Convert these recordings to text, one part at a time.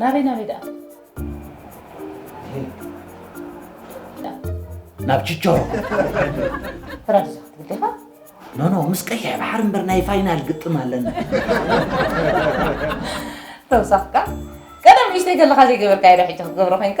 ናበይ ናበይ ደኣ ናብ ችቸሮ ፍራድዛ ክትብል ዲኻ ኖኖ ምስ ቀይሕ ባሕሪ እምበር ናይ ፋይናል ግጥም ኣለና ተውሳኽካ ቀደም ንእሽተይ ከለኻ ዘይገበርካዮ ዶ ሕጂ ክትገብሮ ኮንካ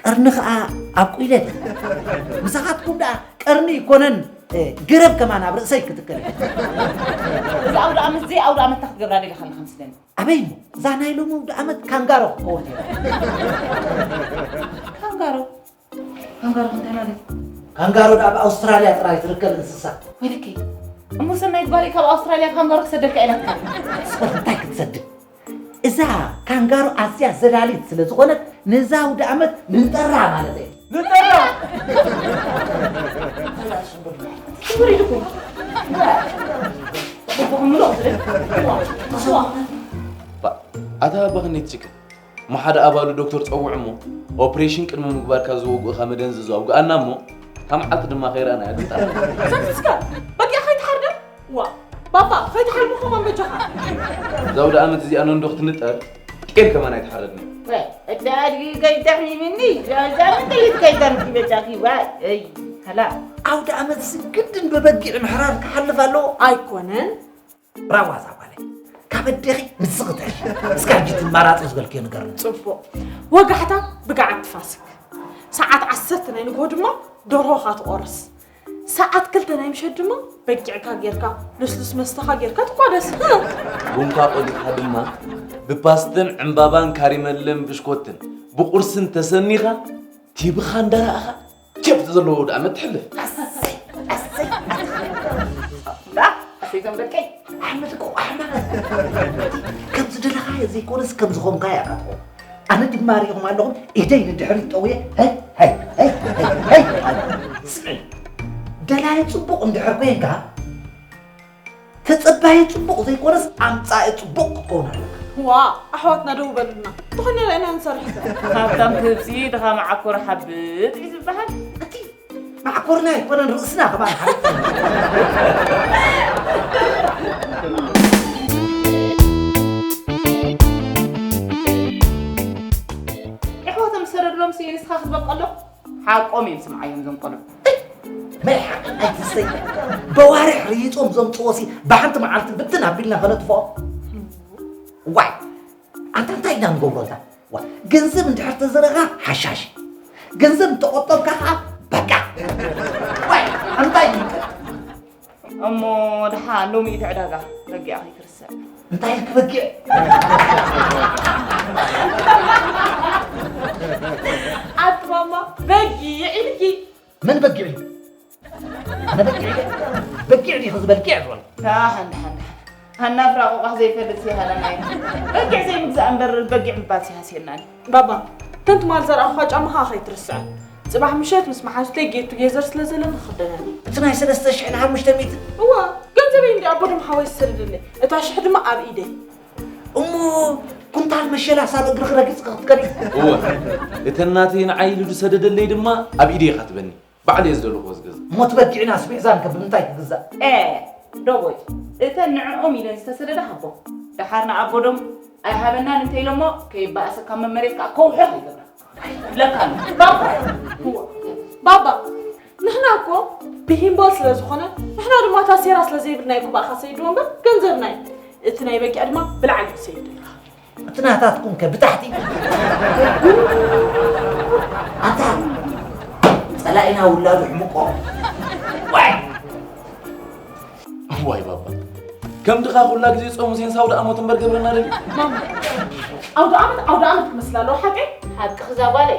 ቀርኒ ከኣ ኣብቁለ ምሳኻትኩም ደኣ ቀርኒ ይኮነን ገረብ ከማን ኣብ ርእሰይ ክትከል እዚ ኣውደ ዓመት እዚ ኣውደ ዓመት እንታይ ክትገብራ ደሊኻ ኣለኻ ምስለኒ ኣበይ እሞ እዛ ናይ ሎሚ ኣውደ ዓመት ካንጋሮ ክትከውን እያ ካንጋሮ ካንጋሮ እንታይ ማለት ካንጋሮ ደኣ ኣብ ኣውስትራልያ ጥራይ ትርከብ እንስሳ ወይለከይ እሞ ሰናይ ግባሪ ካብ ኣውስትራልያ ካንጋሮ ክሰደልካ ኢላትካ ስበር እንታይ ክትሰድድ እዛ ካንጋሮ ኣዝያ ዘላሊት ስለ ዝኾነት ነዛ ኣውደኣመት ንጠራ ማለተይ ንጠራ ሽጉር ኢልኩም ኣታ ባኽኔት ችግር ማሓደ ኣባሉ ዶክተር ፀውዕ እሞ ኦፕሬሽን ቅድሚ ምግባርካ ዝወግኡኻ መደንዘዞ ኣውግኣና እሞ ካብ መዓልቲ ድማ ከይረኣና እያ ትምጣ ዋ ባባ ፈትሒ ሓልሚ ከማን በጃኻ እዛ ወደ ኣመት እዚኣ ነንዶ ክትንጠር ጤል ከማን ኣይተሓረድን እቲ ኣድጊ ከይተርኪብኒ ዛዛምን ጥይት ከይተርኪ በጃኺ ዋይ እይ ከላ ኣውደ ኣመት ስግድን ብበጊዕ ምሕራር ክሓልፍ ኣለዎ ኣይኮነን ብራዋ እዛ ጓለይ ካብ ኣዴኺ ንስኽተሽ እስካ ሕጂ ትማራፂ ዝበልክዮ ንገር ጽቡቕ ወጋሕታ ብገዓት ትፋስክ ሰዓት ዓሰርተ ናይ ንግሆ ድማ ደርሆኻ ትቖርስ ሰዓት ክልተ ናይ ምሸት ድማ በጊዕካ ጌርካ ልስሉስ መስተኻ ጌርካ ትቋደስ ቡንካ ቆሊጥካ ድማ ብፓስትን ዕምባባን ካሪመለን ብሽኮትን ብቁርስን ተሰኒኻ ቲብኻ እንዳረኣኻ ኬፍ ዘለዎ ውድኣመት ትሕልፍ ኣሰይ ኣሰይ ኣሰይ እዞም ደቀይ ኣሕመድ እኮ ኣሕመድ ከም ዝደለኻዮ ዘይኮነስ ከም ዝኾንካዮ ኢኻ ትኾን ኣነ ድማ ሪኦም ኣለኹም ኢደይ ንድሕሪት ጠውየ ሀይ ሀይ ሀይ ሀይ ሀይ ኣለ። ስሚ ደላይ ፅቡቕ እንድሕር ኮንካ ተፀባይ ፅቡቕ ዘይኮነስ ኣምፃኢ ፅቡቕ ክትከውን ኣለካ ዋ ኣሕዋትና ደው በሉና ዝኾነ ርአና ንሰርሕ ሃብታም ክብሲ ድኻ መዓኮር ሓብጥ እዩ ዝበሃል ማዕኮርና ኣይኮነን ርእስና ከባል ኣሕዋቶም ዝሰረድሎም ስየ ንስኻ ክትበቀሎ ሓቆም እዮም ስምዓዮም ዞም ቆልዑ ናይ ሓቂ ኣይትሰይ በዋርሕ ርይጦም ዘምፅዎ ሲ ብሓንቲ መዓልቲ ብትን ኣቢልና ከነጥፍኦ ዋይ ኣንታ እንታይ ኢና ንገብሮ እዛ ዋ ገንዘብ እንድሕር ተዘረኻ ሓሻሽ እዩ ገንዘብ እንተቆጠብካ ከዓ በቃ ዋይ እንታይ እዩ እሞ ድሓ ሎሚ እቲ ዕዳጋ በጊዕ ከይትርስዕ እንታይ ኢልክ በጊዕ ኣቲ ማማ በጊዕ ኢልኪ መን በጊዕ እዩ ኣነ በጊዕ እየ በጊዕ ዲኺ ዝበልኪዕ ዝበል ሓን ሓን ሃና ፍራቑቋ ዘይፈልጥ ሲሃለና እዩ በጊዕ ዘይምግዛእ እምበር በጊዕ ምባል ሲሃስየናኒ ባባ እተን ትማል ዘርኣኹኻ ጫማኻ ከይትርስዐ ፅባሕ ምሸት ምስ መሓዙተይ ጌቱ ጌዘር ስለ ዘለኒ ክኽደነኒ እቲ ናይ ሰለስተ ሽሕን ሓሙሽተ ሚእትን እዋ ገንዘበይ እንዲ ኣቦ ድማ ሓወይ ዝሰደደለይ እታ ሽሕ ድማ ኣብ ኢደይ እሞ ኩንታል መሸላ ሳብ እግሪ ክረግፅ ክትከዲ እወ እተን ናተይ ንዓይ ኢሉ ዝሰደደለይ ድማ ኣብ ኢደይ ኢኻ ትበኒ ባዕለይ እየ ዝደለኹዎ ዝገዝእ። እሞ እቲ በጊዕናስ ምሕዛን ከ ብምንታይ ክግዛእ? ኤህ ዶቦይ እተን ንዕኦም ኢለን ዝተሰደዳ ሃቦም ደሓር ንኣቦ ዶም ኣይሃበናን እንተኢሎሞ ከይበኣሰ ካብ መመሬት ከኣ ከውሕኽ ይገብራ ይብለካ ኣሎ ባባ ባባ ንሕና እኮ ብሂምቦል ስለ ዝኾነ ንሕና ድማ እታ ሴራ ስለ ዘይብልና እዩ ክባእኻ ሰይድዎ እምበር ገንዘብና እዩ እቲ ናይ በጊዕ ድማ ብላዕሊ እዩ ሰይድ እቲ ናታትኩም ከ ብታሕቲ ኣታ ጸላኢና ውላዱ ሕምቆ ዋይ ዋይ ባባ ከም ድኻ ኩላ ግዜ ጾም ሙሴን ሳውዲ ኣሞት እምበር ገብረና ደል ማማ ኣውደ ዓመት ኣውደ ዓመት ክመስል ኣለዎ ሓቀይ ሓቅኺ እዛ ጓለይ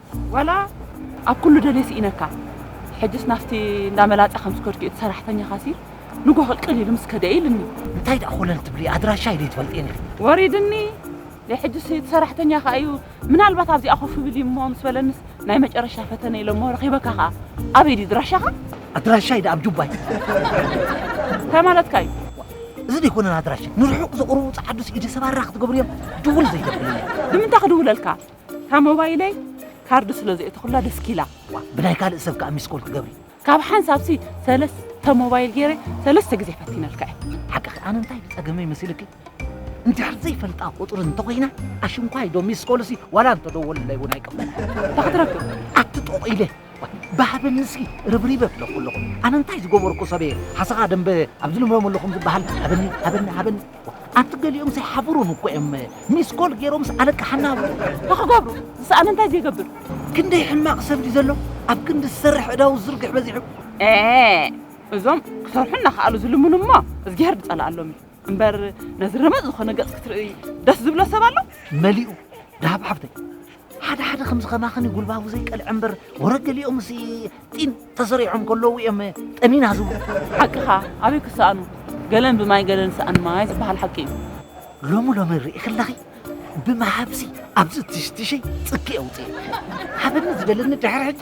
ዋላ ኣብ ኩሉ ደልየ ሲኢነካ ሕጅስ ናስቲ እንዳ መላጸ ከም ዝከድክዮ እቲ ሰራሕተኛ ካሲር ንጎሆ ቅልቅል ኢሉ ምስ ከደ ኢልኒ። እንታይ ደኣ ኮለል ትብሊ ኣድራሻይ ደይ ትፈልጥየን ኢኺ። ወሪድኒ ደይ ሕጅስ እቲ ሰራሕተኛ ከኣ እዩ ምናልባት ኣብዚኣ ኮፍ ብል እዩ እሞ ምስ በለንስ ናይ መጨረሻ ፈተነ ኢለ እሞ ረኺበካ ከኣ ኣበይ ድዩ ድራሻኻ? ኣድራሻይ ደኣ ኣብ ጁባይ። እንታይ ማለትካ እዩ? እዚ ደይኮነን ኣድራሻይ ንርሑቕ ዘቕርቡ ጸዓዱ ሲኢደ ሰባራ ክትገብርዮም ድውል ዘይተብለኒ። ንምንታይ ክድውለልካ? እታ ሞባይለይ ካርድ ስለ ዘእተኹላ ደስኪላ። ዋእ ብናይ ካልእ ሰብ ከኣ ሚስኮል ትገብሪ። ካብ ሓንሳብሲ ሰለስተ ሞባይል ገይረ ሰለስተ ግዜ ፈቲነልካ እየ። ሓቅኺ ኣነ እንታይ እዩ ጸገመይ መሲልኪ? እንድሕር ዘይፈልጣ ቁጽሪ እንተኾይና ኣሽንኳይ ዶ ሚስኮልሲ ዋላ እንተደወሉለይ እውን ኣይቅበልን። እንታይ ክትረክብ? ኣቲ ጦቕ ኢለ ባህበንንስኪ ርብሪበ ፍለኩ ኣለኹ ኣነ እንታይ ዝገበርኩ ሰበየ ሓሰኻ ደንበ ኣብዚ ንብረመሉ ከም ዝበሃል ሃበኒ ሃበኒ ሃበኒ ኣቲ ገሊኦም ዘይሓብሩን እኮ እዮም ሚስኮል ገይሮምስ ኣለቃ ሓናብ ንክገብሩ ዝሰኣነ እንታይ ዘይገብር ክንደይ ሕማቕ ሰብ ድዩ ዘሎ ኣብ ክንዲ ዝሰርሕ ዕዳው ዝርግሕ በዚሑ እዞም ክሰርሑ እናኸኣሉ ዝልምኑ እሞ እዝጊሄር ዝፀልኣሎም እዩ እምበር ነዚ ረመፅ ዝኾነ ገፅ ክትርኢ ደስ ዝብሎ ሰብ ኣሎ መሊኡ ዳሃብ ሓፍተይ ሓደ ሓደ ከምዚ ከማኽኒ ጉልባቡ ዘይቀልዐ እምበር ወረ ገሊኦምስ ጢን ተሰሪዖም ከለዉ እዮም ጠኒና ዝብሉ ሓቅኻ ኣበይ ክሰኣኑ ገለን ብማይ ገለን ሰኣን ማይ ዝበሃል ሓቂ እዩ ሎሚ ሎሚ ርኢ ከለኺ ብምሃብሲ ኣብዚ ትሽትሸይ ጽኪ ኣውፅእ ሓበኒ ዝበለኒ ድሕሪ ሕጂ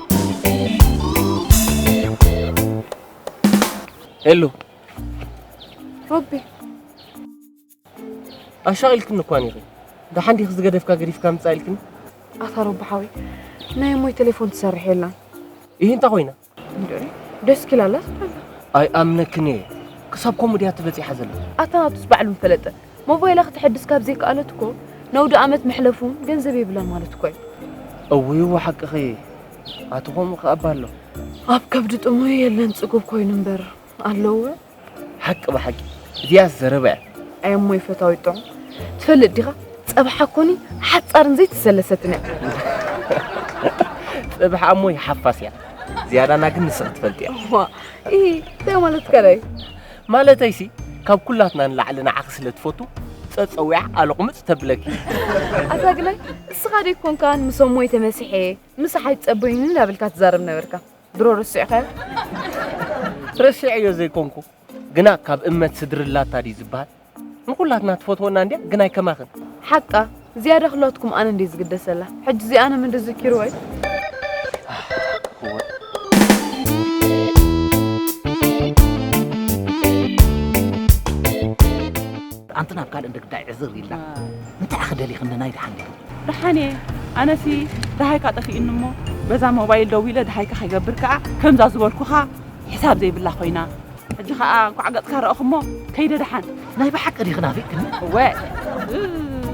ሄሉ ሮቢ ኣሻቒልክኒ እኳ ኔሩ ደሓን ዲኺ ዝገደፍካ ገዲፍካ ምፃእ ኢልክኒ ኣታ ሮቢ ሓወይ ናይ እሞይ ቴሌፎን ትሰርሕ የላን ይህ እንታይ ኮይና እንዴ ደስ ኪላላ ስበላ ኣይኣምነክን እየ ክሳብ ከምኡ ድያ ትበፂሓ ዘለ ኣታ ናቱስ ባዕሉ ምፈለጠ ሞባይላ ክተሐድስ ካብ ዘይከኣለት እኮ ነውዲ ኣመት መሕለፉ ገንዘብ የብላን ማለት እኮ እዩ። እውይው ሓቅኺ ኣቲ ከምኡ ከ እባ ኣሎ ኣብ ከብዲ ጥሙይ የለን ጽጉብ ኮይኑ እምበር ኣለወ ሓቂ ብሓቂ እዚኣስ ዘረባ እያ። ኣይ እሞይ ፈታዊት ጥዑም ትፈልጥ ዲኻ ጸብሓ ኮኒ ሓጻርን ዘይተሰለሰትን እያ። ጽብሓ እሞይ ሓፋስ እያ ዝያዳና ግን ንስኺ ትፈልጥያ። ዋ ኢ እንታይ ማለትካ ደዩ? ማለተይሲ ካብ ኩላትና ንላዕሊ ንዓኺ ስለ ትፈቱ ጸጸዊዓ ቃለ ቁምጽ ተብለኪ። ኣታ ግላይ እስኻ ደይኮንካን ምሶም ሞይተ መሲሐ ምሳሓይ ትጸበዩኒ እንዳበልካ ትዛረብ ነበርካ ድሮ ረሲዕካዮ ረሲዐዮ ዘይኮንኩ ግና ካብ እመት ስድሪ ላታ ድዩ ዝበሃል ንኹላትና ትፈትወና እንድያ ግናይ ከማኽን ሓቃ ዝያዳ ክላትኩም ኣነ እንዴ ዝግደሰላ ሕጂ እዚኣ ንም እንዲ ዝኪሩ ወይ ኣንቲ ናብ ካልእ ደግዳይ ዕዝር ኢላ እንታይ ክደሊኽኒ ናይ ድሓን ኔሩ ድሓን እየ ኣነሲ ድሃይካ ጠፊእኒ እሞ በዛ ሞባይል ደዊለ ድሃይካ ከይገብር ከዓ ከምዛ ዝበልኩኻ ሕሳብ ዘይብላ ኮይና ሕጂ ከኣ እንኳዕ ገጽካ ረኣኹሞ ከይደ ደሓን ናይ ብሓቂ ዲኺ ናፊቅክኒ እወ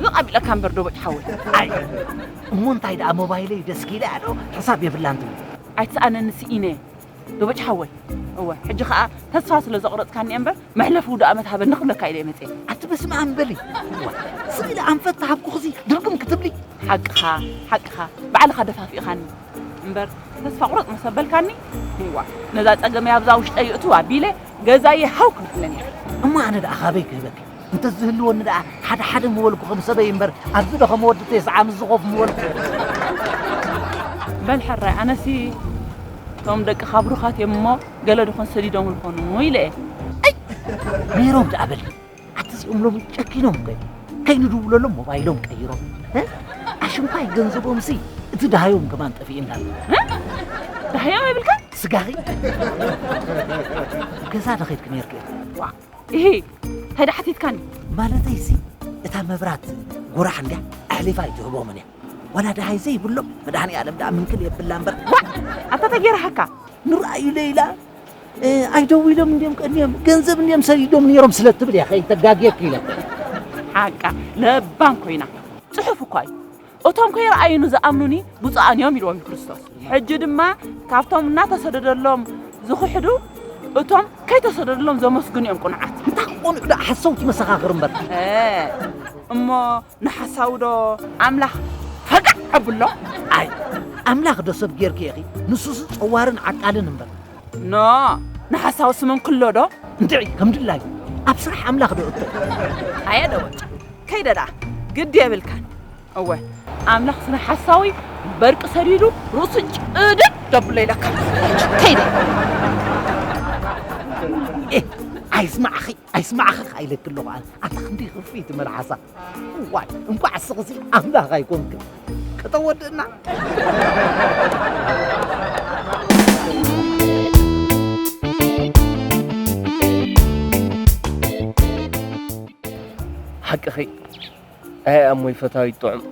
ዝቕ ኣቢለካ እምበር ዶበጭ ሓወይ ኣይ እሞ እንታይ ደኣ ሞባይለይ ደስኪለ ኣዶ ሕሳብ የብላን ትብል ኣይትስኣነኒ ስኢነ ዶበጭ ሓወይ እወ ሕጂ ከኣ ተስፋ ስለ ዘቑረጽካኒ እየ እምበር መሕለፊ ውዱእ ኣመት ሃበኒ ክብለካ ኢለ መጽ ኣቲ በስመ ኣም በሊ ስኢለ ኣንፈት ተሃብኩኽሲ ድርግም ክትብሊ ሓቅኻ ሓቅኻ ባዕልኻ ደፋፊእኻኒ እምበር ተስፋ ቁረጽ ምስ ኣበልካኒ እዋ ነዛ ጸገመይ ኣብዛ ውሽጠይ ይእትው ኣቢለ ገዛየ ሃው ክብለኒ እሞ ኣነ ደኣ ካበይ ክህበኪ እንተዝህልወኒ ደኣ ሓደ ሓደ ምበልኩ ከም ሰበይ እምበር ኣብዚ ዶ ከም ወዲ ቴስዓ ምስ ዝኾፍ ምበልኩ በል ሕራይ ኣነሲ እቶም ደቂ ካብሩኻት እዮም እሞ ገለ ድኾን ሰዲዶም ዝኾኑ ኢለ እየ ነይሮም ደኣ በሊ ኣቲ እዚኦም ሎሚ ጨኪኖም በ ከይንድውለሎም ሞባይሎም ቀይሮም እ? ኣሽንኳይ ገንዘቦም ሲ እቲ ድሃዮም ከማን ጠፊእና ኣሎ ዳህያው የብልካ ስጋኺ ገዛ ዶ ኸይድኪ ነርኪ ዋ ይሄ ታይዳ ሓቲትካኒ ማለተይ ሲ እታ መብራት ጉራሕ እንድያ ኣሕሊፋ ኣይትህቦምን እያ ዋላ ድሃይ ዘይብሎም መድሃኒ ኣለም ድኣ ምንክል የብላ እምበር ዋ ኣታ ተጌርሃካ ንርኣዩ ለይላ ኣይደዊሎም እንዲም ቀኒዮም ገንዘብ እንዲም ሰዲዶም ነይሮም ስለ እትብል እያ ከይተጋግየኪ ኢለ ሓቃ ለባም ኮይና ፅሑፍ እኳ እዩ እቶም ከይረኣዩኒ ዝኣምኑኒ ብፁዓን እዮም ኢልዎም ክርስቶስ ሕጂ ድማ ካብቶም እናተሰደደሎም ዝኽሕዱ እቶም ከይተሰደደሎም ዘመስግኑ እዮም ቁንዓት እንታይ ክቆንዑ ዳ ሓሰውቲ መሰኻኽር እምበር እሞ ንሓሳዊ ዶ ኣምላኽ ፈገዕ ኣብሎ ኣይ። ኣምላኽ ዶ ሰብ ጌርኪ ኢኺ ንሱስ ጸዋርን ዓቃልን እምበር። ን ንሓሳዊ ስምንክሎ ዶ። እንድዒ ከም ድላዩ ኣብ ስራሕ ኣምላኽ ዶ እቶ። ኣየ ደወጭ ከይደ ደኣ ግዲ የብልካን። እወ ኣምላኽስ ንሓሳዊ በርቂ ሰዲዱ ርእሱ ጭድድ ደብሎ ኢለካ ከይደ። ኤህ ኣይስማዕኺ ኣይስማዕኻ ከኣ ኢለኪ ኣለኹ ኣነ ኣታ ክንደይ ክፍኢቲ መልሓሳ እዋይ እንኳዕ እስኽሲ ኣምላኽ ኣይኮንክን ከተወድእና ሓቅኺ ኣይ ኣሞይ ፈታዊት ጥዑም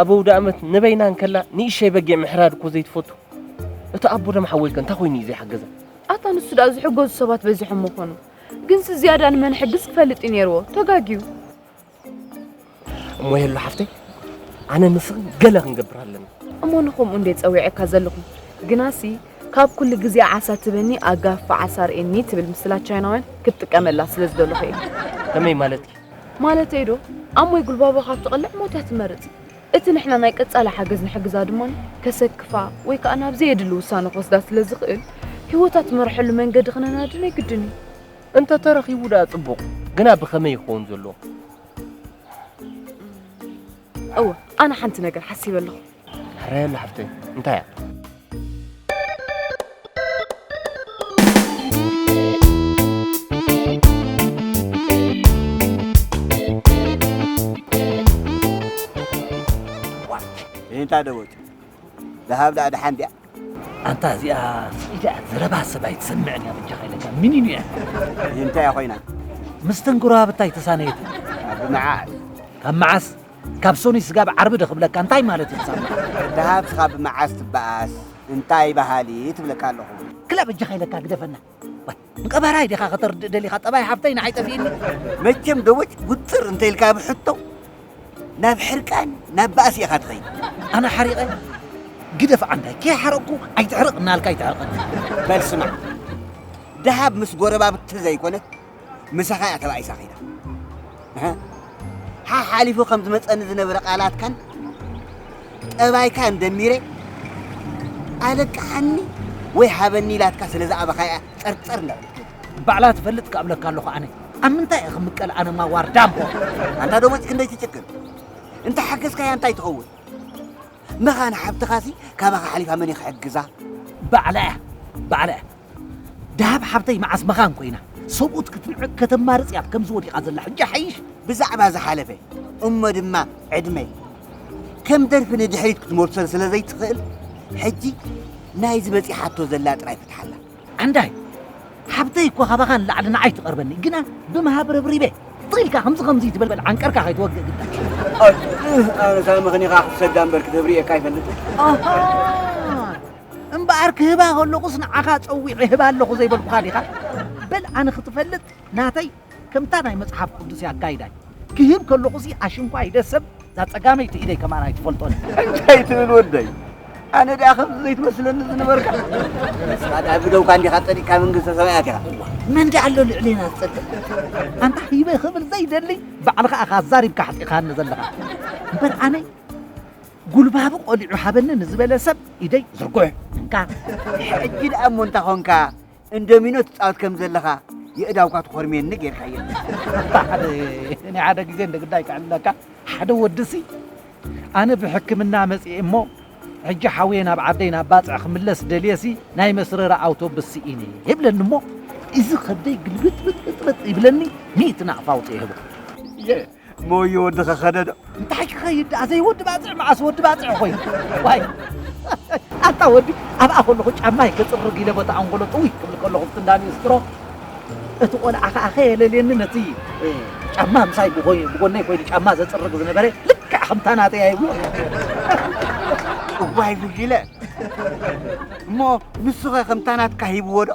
ኣብ ውድ ኣመት ንበይና እንከላ ንእሸይ በጊዕ ምሕራድ እኮ ዘይትፈቱ እቲ ኣቦ ደም ሓወይከ እንታይ ኮይኑ እዩ ዘይሓገዘ ኣታ ንሱ ደኣ ዝሕገዙ ሰባት በዚሖም ምኾኑ ግንሲ ዝያዳ ንመን ሕግዝ ክፈልጥ እዩ ነይርዎ ተጋግዩ እሞ የሉ ሓፍተይ ኣነ ንስኽን ገለ ክንገብር ኣለና እሞ ንኸምኡ እንደ ጸዊዐካ ዘለኹ ግናሲ ካብ ኩሉ ግዜ ዓሳ ትበኒ ኣጋፋ ዓሳ ርእኒ ትብል ምስላ ቻይናውያን ክትጥቀመላ ስለ ዝደለኹ እየ ከመይ ማለት እዩ ማለተይ ዶ ኣሞይ ጉልባቦ ካብ ትቕልዕ ሞት እያ ትመርጽ እቲ ንሕና ናይ ቀጻሊ ሓገዝ ንሕግዛ ድማ ከሰክፋ ወይ ከኣ ናብ ዘየድሊ ውሳነ ክወስዳ ስለ ዝኽእል፣ ህይወታ ትመርሐሉ መንገዲ ክነናዲ ናይ ግድን እዩ። እንተ ተረኺቡ ደኣ ጽቡቕ፣ ግና ብኸመይ ክኸውን ዘለዎ? እወ፣ ኣነ ሓንቲ ነገር ሓሲበ ኣለኹ። ራሄል ሓፍተይ፣ እንታይ እያ? እንታ ደወት ዝሃብ ዳኣ ደሓን ድያ ኣንታ እዚኣ ስኢዳ ዘረባ ሰብ ኣይትሰምዕን እያ ብጃኻ ኢለካ ሚኒን እያ እንታይ እያ ኮይና ምስተን ጎረባብታ ኣይተሳነየት ካብ መዓስ ካብ መዓስ ካብ ሰኑይ ስጋብ ዓርቢ ዶ ክብለካ እንታይ ማለት እዩ ሳምሪ። ደሃብ ስኻብ መዓስ ትበኣስ እንታይ በሃሊት እብለካ ኣለኹ። ክላ በጃኻ ኢለካ ግደፈና። ዋይ ንቀባራይ ዲኻ ከተርድእ ደሊኻ ጠባይ ሓፍተይ ንዓይ ጠፊእኒ። መቸም ደወች ጉጥር እንተ ኢልካ ብ ሕቶ ናብ ሕርቃን ናብ ባእሲ ኢኻ ትኸይድ። ኣነ ሓሪቐ ግደፍ ዓንዳይ ከይሓረቕኩ ኣይትሕረቕ እናበልካ ኣይተዕርቐኒ። በል ስማዕ ደሃብ ምስ ጎረባብቲ ዘይኮነት ምሳኻ እያ ተባኢሳ ከይዳ እህ፣ ሓሓሊፉ ከም ዝመፀኒ ዝነበረ ቃላትካን ጠባይካን ደሚረ ኣለቅሓኒ ወይ ሃበኒ ኢላትካ ስለ ዝኣበኻ እያ ፀርፀር እንዳበልኩ ባዕላ ትፈልጥ ክኣብለካ ኣለኹ ኣነ ኣብ ምንታይ እየ ክምቀል ኣነማ ዋርዳ እሞ ኣንታ ደሞፅ ክንደይ ትጭክን እንተ ሓገዝካያ እንታይ ትኸውን መኻን ሓብትኻሲ ካባኻ ሓሊፋ መን እዩ ክሕግዛ ባዕላ እያ ባዕላ እያ ደሃብ ሓብተይ መዓስ መኻን ኮይና ሰብኡት ክትንዕቅ ከተማርጽ እያ ከምዚ ወዲቃ ዘላ ሕጂ ሓይሽ ብዛዕባ ዝሓለፈ እሞ ድማ ዕድመይ ከም ደርፊ ንድሕሪት ክትመልሶ ስለ ዘይትኽእል ሕጂ ናይዚ በጺሓቶ ዘላ ጥራይ ፍትሓላ ዓንዳይ ሓብተይ እኮ ካባኻ ንላዕሊ ንዓይ ትቐርበኒ ግና ብምሃብ ረብሪበ ጥሪልካ ከምዚ ከምዚ ትበልበል ዓንቀርካ ከይትወግእ ግዳ ኣነ ካብ ምኽኒኻ ክትሰዳ እምበር ክትብሪ እየካ ኣይፈልጥን እምበኣር ክህባ ከለኹስ ንዓኻ ጸዊዐ ህባ ኣለኹ ዘይበልኩኻ ዲኻ? በል ኣነ ክትፈልጥ ናተይ ከምታ ናይ መጽሓፍ ቅዱስ ኣካይዳይ ክህብ ከለኹሲ ኣሽንኳይ ኢደ ሰብ እዛ ጸጋመይቲ ኢደይ ከማን ኣይትፈልጦን እንታይ ትብል ወደይ ኣነ ደኣ ከምዚ ዘይትመስለኒ ዝነበርካ ንስኻ ደኣ ብደውካ እንዲኻ ጸዲቅካ መንግስተ ሰማያት ኢኻ መን ደኣ ኣሎ ልዕሌና ዝጸድቕ ኣንታ ሂበ ክብል ዘይደሊ ባዕልኻ ኢኻ ኣዛሪብካ ኣሕጢኻኒ ዘለኻ እምበር ኣነ ጉልባቡ ቆሊዑ ሃበኒ ንዝበለ ሰብ ኢደይ ዝርጉሕ። እንካ ሕጂ ደኣ እሞ እንታ ኾንካ እንዶሚኖ ትጻወት ከም ዘለኻ የእዳውካ ትኾርምየኒ ጌርካየን። እኔ ሓደ ግዜ እንደ ግዳይ ክዕልለካ ሓደ ወድሲ ኣነ ብሕክምና መጽኤ እሞ ሕጂ ሓውየ ናብ ዓደይ ናብ ባጽዕ ክምለስ ደልየሲ ናይ መስረራ ኣውቶብስ ስኢነ ይብለኒ እሞ እዚ ከብደይ ግልብጥብጥብጥ ይብለኒ ሚእቲ ናቕፋ ኣውጽእ ይህቦ እሞ'ዩ ወዲ ከኸደ ዶ እንታይ ክኸይድ ደኣ ዘይወዲ ባጽዕ መዓስ ወዲ ባጽዕ ኮይኑ ዋይ ኣታ ወዲ ኣብኣ ከለኹ ጫማይ ክጽርግ ኢለ ቦታ ኣንጎሎ ጥውይ ክብል ከለኹ ብትንዳኒ ስትሮ እቲ ቆልዓ ከዓ ከየለልየኒ ነቲ ጫማ ምሳይ ብኮይ ብጎነይ ኮይኑ ጫማ ዘጽርግ ዝነበረ ልክዕ ከምታ ናተይ ኣይብሉ እዋይ ጉጅለ እሞ ንሱኸ ከምታ ናትካ ሂብዎ ዶ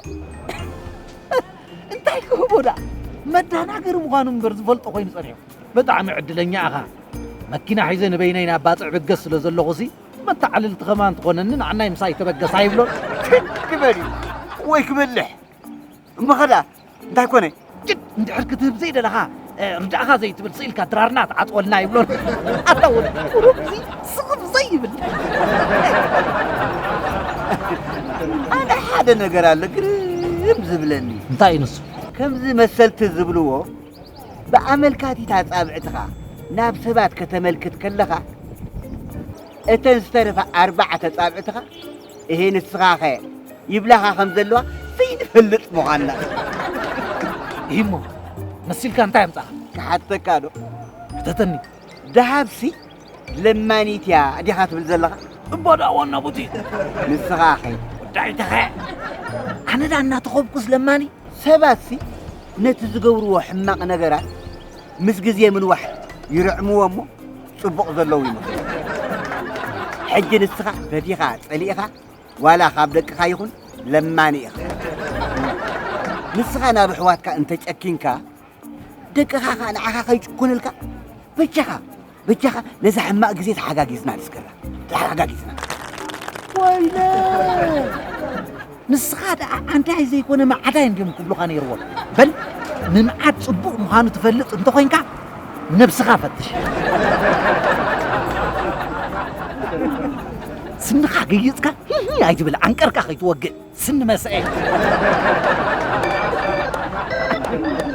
እንታይ ክህቦ ደኣ መዳናገሪ ምዃኑ እምበር ዝፈልጦ ኮይኑ ጸኒሑ ብጣዕሚ ዕድለኛ ኢኻ መኪና ሒዘ ንበይነይ ናብ ባጽዕ ብገስ ስለ ዘለኹሲ መተዓልልቲ ኸማ እንትኾነኒ ንዓናይ ምሳይ ተበገስ ኣይብሎን ክበል እዩ ወይ ክበልሕ እሞ ኸዳ እንታይ ኮነ ጭድ እንድሕር ክትህብ ዘይደለኻ ርድእኻ ዘይትብል ስኢልካ ድራርና ትዓፅወልና ይብሎን ኣታ ወደ ቁሩብዚ ስቕም ዘይብል ኣነ ሓደ ነገር ኣሎ ግርም ዝብለኒ እንታይ እዩ ንሱ ከምዚ መሰልቲ ዝብልዎ ብኣመልካቲት ኣጻብዕትኻ ናብ ሰባት ከተመልክት ከለኻ እተን ዝተረፋ ኣርባዕተ ጻብዕትኻ እሄ ንስኻኸ ይብላኻ ከም ዘለዋ ዘይንፈልጥ ምዃንና ይህሞ መሲልካ እንታይ ኣምፃኻ ክሓተካ ዶ ሕተተኒ ደሃብሲ ለማኒት እያ ዲኻ ትብል ዘለኻ እባ ደኣ ዋና ቦቲ ንስኻኸ ጉዳይትኸ ኣነ ደኣ እናተኸብኩስ ለማኒ ሰባትሲ ነቲ ዝገብርዎ ሕማቕ ነገራት ምስ ግዜ ምንዋሕ ይርዕምዎ እሞ ጽቡቕ ዘለዉ ይመስሉ። ሕጂ ንስኻ ፈቲኻ ጸሊእኻ ዋላ ካብ ደቅኻ ይኹን ለማኒ ኢኻ። ንስኻ ናብ ኣሕዋትካ እንተጨኪንካ ደቅኻ ከኣ ንዓኻ ከይጭኩንልካ በጃኻ በጃኻ ነዛ ሕማቕ ግዜ ተሓጋጊዝና ንስገራ ተሓጋጊዝና ወይነ ንስኻ ደኣ ኣንታይ ዘይኮነ ማዓዳይ እንድዮም ክብሉኻ ነይርዎም በል ምምዓድ ጽቡቕ ምዃኑ ትፈልጥ እንተኾይንካ ነብስኻ ፈትሽ ስንኻ ገይጽካ ሂሂ ኣይትብል ዓንቀርካ ከይትወግእ ስኒ መሰኤ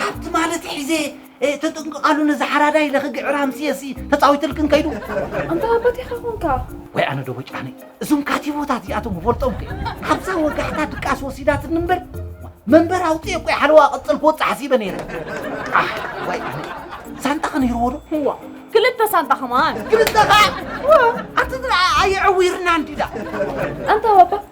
ሃብቲ ማለት ሒዘ ተጥንቅቓሉ ነዚ ሓራዳ ኢለ ክግዕር ሃምስየሲ ተፃዊትልክን ከይዱ ኣንታ ኣባት ኢኻ ኮንካ ወይ ኣነ ዶ ወጫነ እዞም ካቲቦታት እዚኣቶም ክፈልጦም ከ ካብዛ ወጋሕታ ድቃስ ወሲዳትኒ እምበር መንበር ኣውፅኤ ቆይ ሓለዋ ቅፅል ክወፅእ ሓሲበ ነይረ ኣሕ፣ ወይ ኣነ ሳንጣ ከነይርዎ ዶ እዋ ክልተ ሳንጣ ከማን ክልተ ከዓ ኣቲ ኣየዕዊርና እንዲዳ ኣንታ ኣባ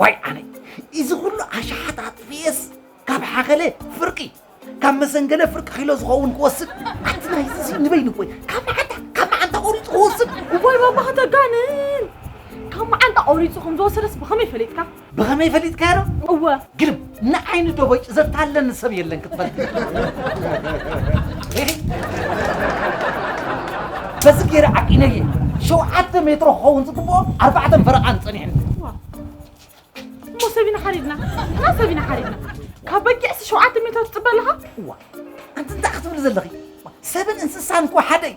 ዋይ ኣነይ እዚ ኩሉ ኣሽሓት ኣጥፊኤስ ካብ ሓኸለ ፍርቂ ካብ መሰንገለ ፍርቂ ኪሎ ዝኸውን ክወስድ ኣንቲ ናይ እዚ ንበይኑ ቆይ ካብ መዓንታ ካብ መዓንታ ቆሪፁ ክወስድ እዋይ ባባ ከተጋንን ካብ መዓንታ ቆሪፁ ከም ዝወሰደስ ብኸመይ ፈሊጥካ ብኸመይ ፈሊጥካዮ እወ ግርም ንዓይኒ ደቦጭ ዘታለኒ ሰብ የለን ክትፈልጥ በዚ ገይረ ዓቂነየ ሸውዓተ ሜትሮ ክኸውን ዝግብኦ ኣርባዕተን ፈረቓን ጸኒሕኒ እሞ ሰቢና ሓሪድና እና ሰቢና ሓሪድና ካብ በጊዕሲ ሸውዓተ ሜትሮ ትፅበ ኣለኻ እዋ ኣንቲ እንታይ ክትብሊ ዘለኺ ሰብን እንስሳን እኮ ሓደ እዩ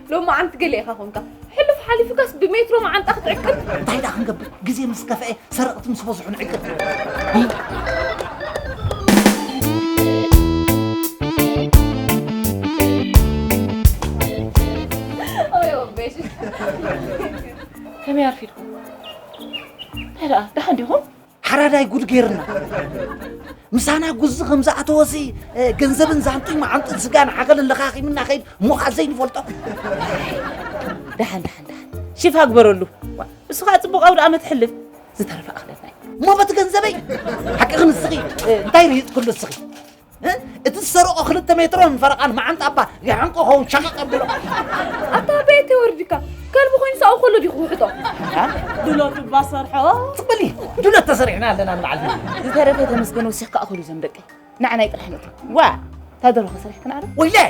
ሎማዓንቲ ገለ ኢኻ ኮንካ ሕሉፍ ሓሊፉካስ ብሜትሮ መዓንጣ ክትዕቅብ እንታይ ደኣ ክንገብር ግዜ ምስ ከፍአ ሰረቕቲ ምስ በዝሑ ንዕቅብ ከመይ ኣርፊድኩም እንታይ ደኣ ደሓን ዲኹም ሓራዳይ ጉድ ጌርና ምሳና ጉዚ ከም ዝኣተወሲ ገንዘብን ዛንጡይ መዓንጥን ስጋን ሓኸልን ለኻኺምና ከይድ ሞኻ ዘይንፈልጦ ደሓን ደሓን ደሓን ሽፋ ግበረሉ ንስኻ ፅቡቕ ኣውደ ኣመት ሕልፍ ዝተረፈ ኣኽለና እሞ በቲ ገንዘበይ ሓቂ ክንስኺ እንታይ ርሂፅ ኩሉ እስኺ እቲ ዝሰረቆ ክልተ ሜትሮን ፈረቃን መዓንጣ እባ ይሓንቆ ኸውን ሸቐቕ ኣብሎ ኣታ ኣበየ ተወርድካ ከልቢ ኮይኑ ሳኡ ከሎ ዲኹ ውሕጦ ድሎት እባ ሰርሖ ትበሊ ድሎት ተሰሪሕና ኣለና ንበዓል ዝተረፈ ተመስገን ወሲኽካ እኹሉ ዘም ደቀይ ንዓናይ ጥራሕ ነቲ ዋ ታደረኸ ሰሪሕክን ኣረ ወይላይ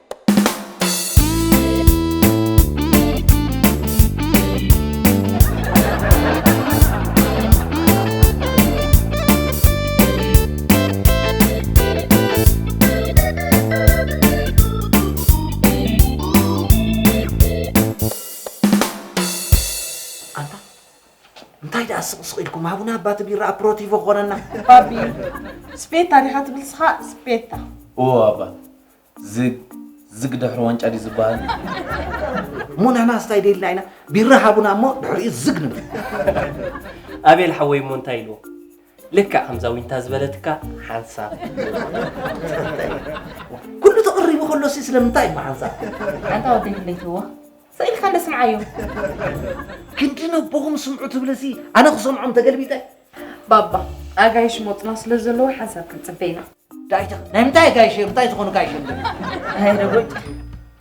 እንታይ ደኣ ስቕስቕ ኢልኩም ሃቡና እባ እቲ ቢራ ኣፕሮቲቮ ክኾነና ባቢ ስፔታ ዲኻ ትብል ስኻ ስፔታ እዎ ኣባ ዝግ ዝግ ድሕሪ ዋንጫ ድዩ ዝበሃል? እሞ ንሕና ስታይ ደይልና ኢና ቢራ ሃቡና እሞ ድሕሪኡ ዝግ ንብል ኣቤል ሓወይ እሞ እንታይ ኢልዎ ልክዕ ከምዛ ዊንታ ዝበለትካ ሓንሳብ ኩሉ ተቕሪቡ ከሎ ሲ ስለምንታይ እሞ ሓንሳብ ኣንታ ወደይ ድሌትዎ ስኢልካ እንደ ስምዓዮ ክንዲ ነቦኹም ስምዑ ትብልሲ ኣነ ክሰምዖም ተገልቢጠ ባባ ኣጋይሽ ሞፅና ስለ ዘለዎ ሓንሳብ ክንፅበ ኢና ጋይሸ ናይ ምንታይ ጋይሸ ምንታይ ዝኾኑ ጋይሸ እንደ ኣይ ረጎድ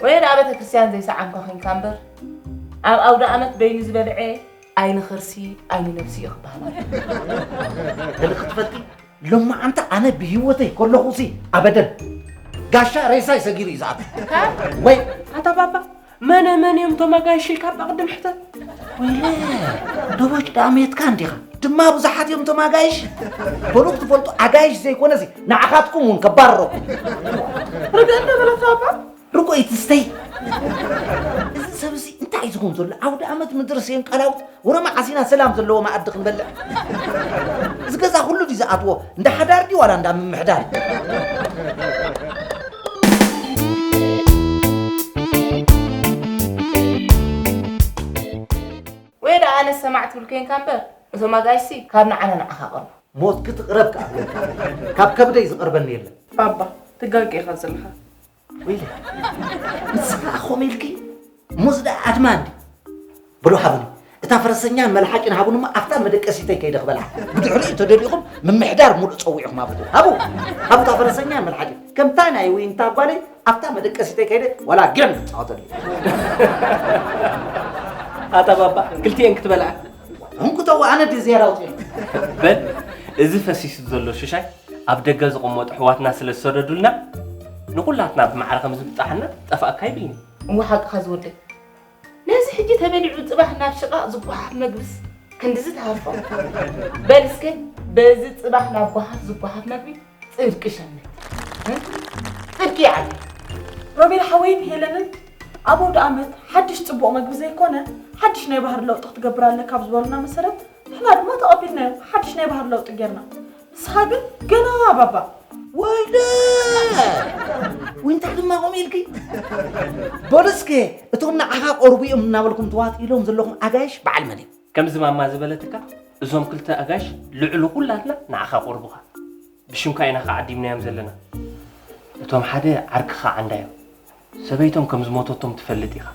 ወይን ኣብ ቤተ ክርስቲያን ዘይሰዓምካ ኮንካ እምበር ኣብ ኣውደ ኣመት በይኑ ዝበልዐ ኣይኒ ኸርሲ ኣይኒ ነብሲ እዩ ክበሃል ገለ ክትፈልጢ ሎማዓንቲ ኣነ ብሂወተይ ከለኹ ሲ ኣበደን ጋሻ ሬሳይ ሰጊሩ እዩ ዝኣቱ ወይ ኣታ ባባ መነ መን እዮም እቶም ኣጋይሽ ኢልካ እባ ቅድም ሕተት። ወይለ ደቦጭ ደኣ መየትካ እንዲኻ ድማ ብዙሓት እዮም እቶም ኣጋይሽ በሉ ክትፈልጡ ኣጋይሽ ዘይኮነ እዚ ንዓኻትኩም እውን ከባርረኩም ርግእ እንደበለካ እባ ርጉኢት ስተይ እዚ ሰብ እዚ እንታይ እዩ ዝኸውን ዘሎ ዓውደ ኣመት ምድሪ ስየን ቃላውት ወረ መዓስ ኢና ሰላም ዘለዎ መኣዲ ክንበልዕ? እዚ ገዛ ኩሉ ድዩ ዝኣትዎ? እንዳ ሓዳር ድዩ ዋላ እንዳ ምምሕዳር? ወይ ደኣ ኣነ ሰማዕ ትብል ኮንካ እምበር እዞም ኣጋይሲ ካብ ንዓና ንዓኻ ቀርቡ ሞት ክትቕረብ ክኣ ካብ ከብደይ ዝቐርበኒ የለን ባባ ትጋገ ኢኻ ዘለኻ ወይለይ ንስኻ ከምኡ ኢልኪ ሞዝ ደኣ ኣድማ እንዲ ብሎ ሃቡኒ እታ ፈረሰኛን መልሓጭን ሃቡን እሞ ኣብታ መደቀሲተይ ከይደ ክበልዓ ብድሕሪኡ ተደሊኹም ምምሕዳር ሙሉእ ፀዊዕኹም ሃቡ ሃቡ ሃቡ እታ ፈረሰኛን መልሓጭን ከምታ ናይ ዊንታ ጓለይ ኣብታ መደቀሲተይ ከይደ ዋላ ገም ፃወተሉ ኣታ ባባ ክልቲኤን ክትበልዓ እንኩተዋ ኣነ ድየ ዝያዳ ውፅኢሉ በል እዚ ፈሲሱ ዘሎ ሽሻይ ኣብ ደገ ዝቕመጡ ኣሕዋትና ስለ ዝሰደዱልና ንኹላትና ብማዕረ ከም ዝብጻሓና ጠፋእካ ኣይብልን'ዩ። እወ ሓቅኻ ዝወደይ ነዚ ሕጂ ተበሊዑ ጽባሕ ናብ ሽቓቕ ዝጓሓፍ መግብስ ክንድዚ ትሃርፎ? በል እስከ በዚ ጽባሕ ናብ ጓሓፍ ዝጓሓፍ መግቢ ጽድቂ ሸምት። ጽድቂ ይዓቢ። ሮቤል ሓወይን ሄለንን ኣብ ኣውደኣመት ሓድሽ ጽቡቕ መግቢ ዘይኮነ ሓድሽ ናይ ባህሪ ለውጢ ክትገብር ኣለካ ኣብ ዝበሉና መሰረት ንሕና ድማ ተቐቢልናዮም ሓድሽ ናይ ባህሪ ለውጢ ጌርና ንስኻ ግን ገና ባባ ወይለ ዊንታ ድማ ከምኡ ኢልኪ በሉ እስከ እቶም ንዓኻ ቀርቡ እዮም እናበልኩም ተዋጢሎም ዘለኹም ኣጋይሽ በዓል መን እዩ ከምዚ ማማ ዝበለትካ እዞም ክልተ ኣጋይሽ ልዕሊ ኩላትና ንዓኻ ቆርቡኻ ብሽምካ ኢና ከዓ ዓዲምናዮም ዘለና እቶም ሓደ ዓርክኻ ዓንዳ እዮም ሰበይቶም ከም ዝሞተቶም ትፈልጥ ኢኻ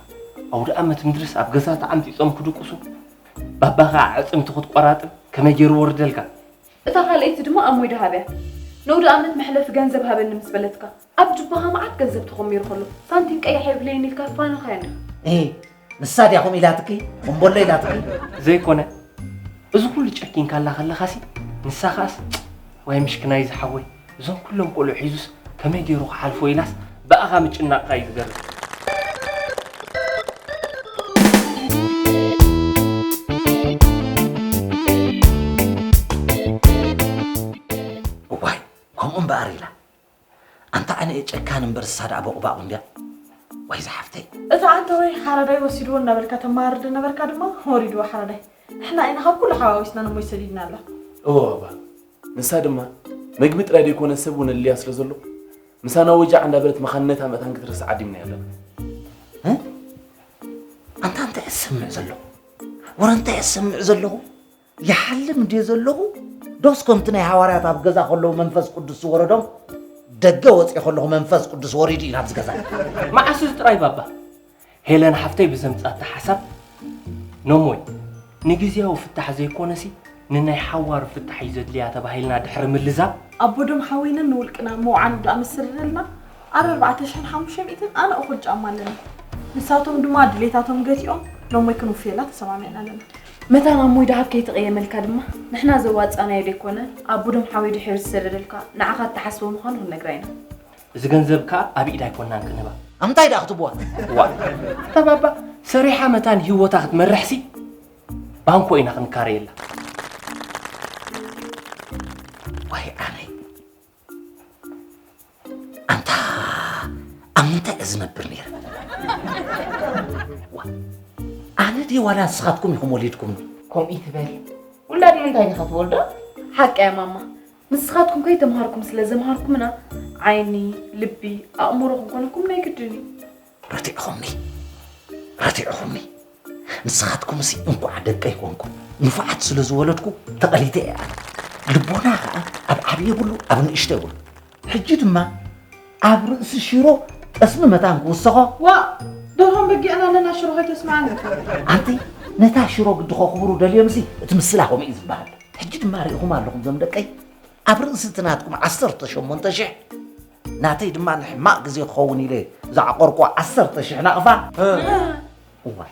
ኣውደ ኣመት ምድርስ ኣብ ገዛ ተዓምፂፆም ክድቅሱ ባባ ከዓ ኣዕፅምቲ ክትቆራጥም ከመይ ገይሩ ወርደልካ እታ ካልኣይቲ ድማ ኣሞይ ደሃብያ ነውደኣመት መሕለፊ ገንዘብ ሃበኒ ምስ በለትካ ኣብ ጁባኻ መዓት ገንዘብ ተኾሚሩ ከሎ ሳንቲም ቀያሕ የብለይን ኢልካ ፋንኻያ ነይሩ። እሂ ንሳ ድያ ከምኡ ኢላትኪ እምቦሎ ኢላትኪ? ዘይኮነ እዚ ኩሉ ጨኪንካላ ከለኻሲ ንሳ ከኣስ ዋይ ምሽክናይ ዝሓወይ እዞም ኩሎም ቆልዑ ሒዙስ ከመይ ገይሩ ክሓልፎ ኢላስ ብኣኻ ምጭናቕካ እዩ ዝገርም እዋይ ከምኡ እምበኣር ኢላ ኣንታ ኣነ እየ ጨካን እምበር እሳ ደኣ ቦቕባቑ እንድያ ወይ ዝሓፍተይ እቲ ኣንተ ወይ ሓረዳይ ወሲድዎ እናበልካ ተማርድ ነበርካ ድማ ወሪድዎ ሓረዳይ ንሕና ኢና ካብ ኩሉ ሓዋዊስና ንሞይ ሰዲድናላ እወ እባ ንሳ ድማ መግቢ ጥራይ ዘይኮነ ሰብ እውን ኣድልያ ስለ ዘሎ ምሳና ወጃዕ እንዳበለት መኻንነታ መታን ክትርስዕ ዓዲምናያ ኣለና። ኣንታ እንታይ ዝሰምዕ ዘለኹ ወረ እንታይ ዝሰምዕ ዘለኹ ይሓልም እንድየ ዘለኹ ዶስ ከምቲ ናይ ሃዋርያት ኣብ ገዛ ከለዉ መንፈስ ቅዱስ ዝወረዶም ደገ ወፂኦ ከለኹ መንፈስ ቅዱስ ወሪዱ እዩ ናብዚ ገዛ መዓስ እዚ ጥራይ ባባ ሄለን ሓፍተይ ብዘምጻታ ሓሳብ ነሞይ ንግዝያዊ ፍታሕ ዘይኮነሲ ንናይ ሓዋሩ ፍታሕ እዩ ዘድልያ ተባሂልና ድሕሪ ምልዛብ ኣቦ ደም ሓወይንን ንውልቅና ምውዓሉ ድኣ ምስ ስርርልና ኣረ ኣርባዕተ ሽሕን ሓሙሽተ ሚእትን ኣነ እኹል ጫማ ኣለኒ ንሳቶም ድማ ድሌታቶም ገቲኦም ነሞይ ክንውፍየላ ተሰማሚዕና ኣለና መታን ኣሞይ ድሃብ ከይተቐየመልካ ድማ ንሕና ዘዋጻእናዮ ደይኮነ ኣቦ ደም ሓወይ ድሒሩ ዝስርርልካ ንዓኻ እትሓስቦ ምዃኑ ክንነግራ ኢና እዚ ገንዘብ ከኣ ኣብ ኢድ ኣይኮናን ክንህባ። ኣብ ምንታይ ደኣ ክትህብዋ? እዋእ እታ ባባ ሰሪሓ መታን ህይወታ ክትመርሕሲ ባንኮ ኢና ክንካረየላ። ዋይ ኣነይ ኣንታ ኣብ ምንታይ እየ ዝነብር ነይረ? ዋ፣ ኣነ ድየ ዋላ ንስኻትኩም ኢኹም ወሊድኩምኒ? ከምኡ ትበል ውላድ ምንታይ ኢኻ ትወልዶ? ሓቀያ ማማ ንስኻትኩም ከይተምሃርኩም ስለ ዘምሃርኩምና ዓይኒ ልቢ ኣእምሮ ክንኮነኩም ናይ ግድን እዩ ረቲዕኹምኒ ረቲዕኹምኒ ንስኻትኩም ሲ እንኳዕ ደቀይ ኮንኩም ንፉዓት ስለ ዝወለድኩ ተቐሊተ እያ ልቦና ከዓ ኣብ ዓብዪ የብሉ ኣብ ንእሽተ የብሉ ሕጂ ድማ ኣብ ርእሲ ሽሮ ጠስሚ መታን ክውሰኾ ዋእ ደርሆን በጊዕን ኣለና ሽሮ ከይተስምዓኒ ኣንቲ ነታ ሽሮ ግዲ ከኽብሩ ደልዮምሲ እቲ ምስላ ከምኡ እዩ ዝበሃል ሕጂ ድማ ርኢኹም ኣለኹም ዞም ደቀይ ኣብ ርእሲ እቲ ናትኩም ዓሰርተ ሸሞንተ ሽሕ ናተይ ድማ ንሕማቕ ግዜ ክኸውን ኢለ ዝዓቆርኩ ዓሰርተ ሽሕ ናቕፋ እዋይ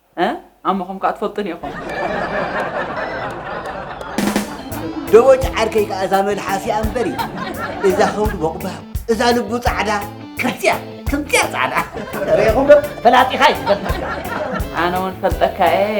ኣሞኹም ከኣ ትፈልጡኒ ኢኹም። ደቦጭ ዓርከይ ከኣ እዛ መልሓሲኣ እምበሪ እዛ ከብዱ ቦቕባቕ እዛ ልቡ ጻዕዳ ከምዚኣ ከምዚኣ ጻዕዳ ርኢኹም ዶ ፈላጢኻ እዩ ዝበልካ ኣነ እውን ፈልጠካ እየ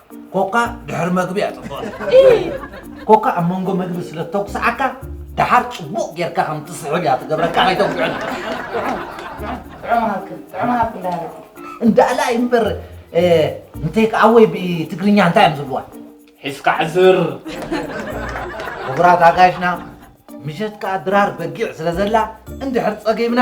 ኮካ ድሕሪ መግቢ እያ ፅቡቕ ኮካ ኣብ መንጎ መግቢ ስለ ተጉስዓካ ደሓር ፅቡቕ ጌርካ ከም ትስሕብ እያ ትገብረካ ከይተጉስዐን እንዳእላ እምበር እንታይ ከዓ ወይ ብትግርኛ እንታይ እዮም ዝብልዋ ሒዝካ ሕዝር ክቡራት ኣጋይሽና ምሸት ከዓ ድራር በጊዕ ስለ ዘላ እንድሕር ፀጊብና